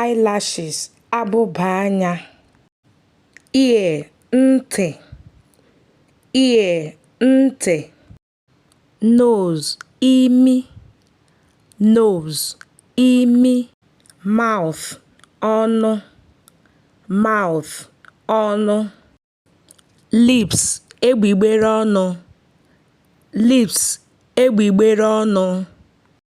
eyelashes abụba anya ear ntị ear ntị nose imi nose imi mouth ọnụ mouth ọnụ lips egbugbere ọnụ lips egbugbere ọnụ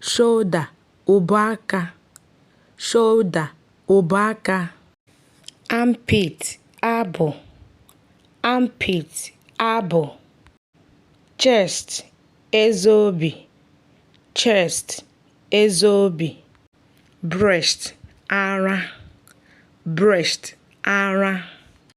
shoulder ubu aka shoulder ubu aka armpit abụ armpit abụ chest eze obi chest eze obi breast ara breast ara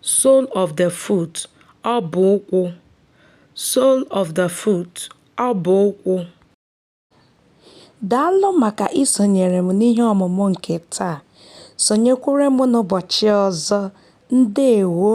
sole of the foot ọbụ ụkwụ sole of the foot ọbụ ụkwụ Daalụ maka isonyere m n'ihe ọmụmụ nke taa. Sonyekwuru m n'ụbọchị ọzọ. Ndewo!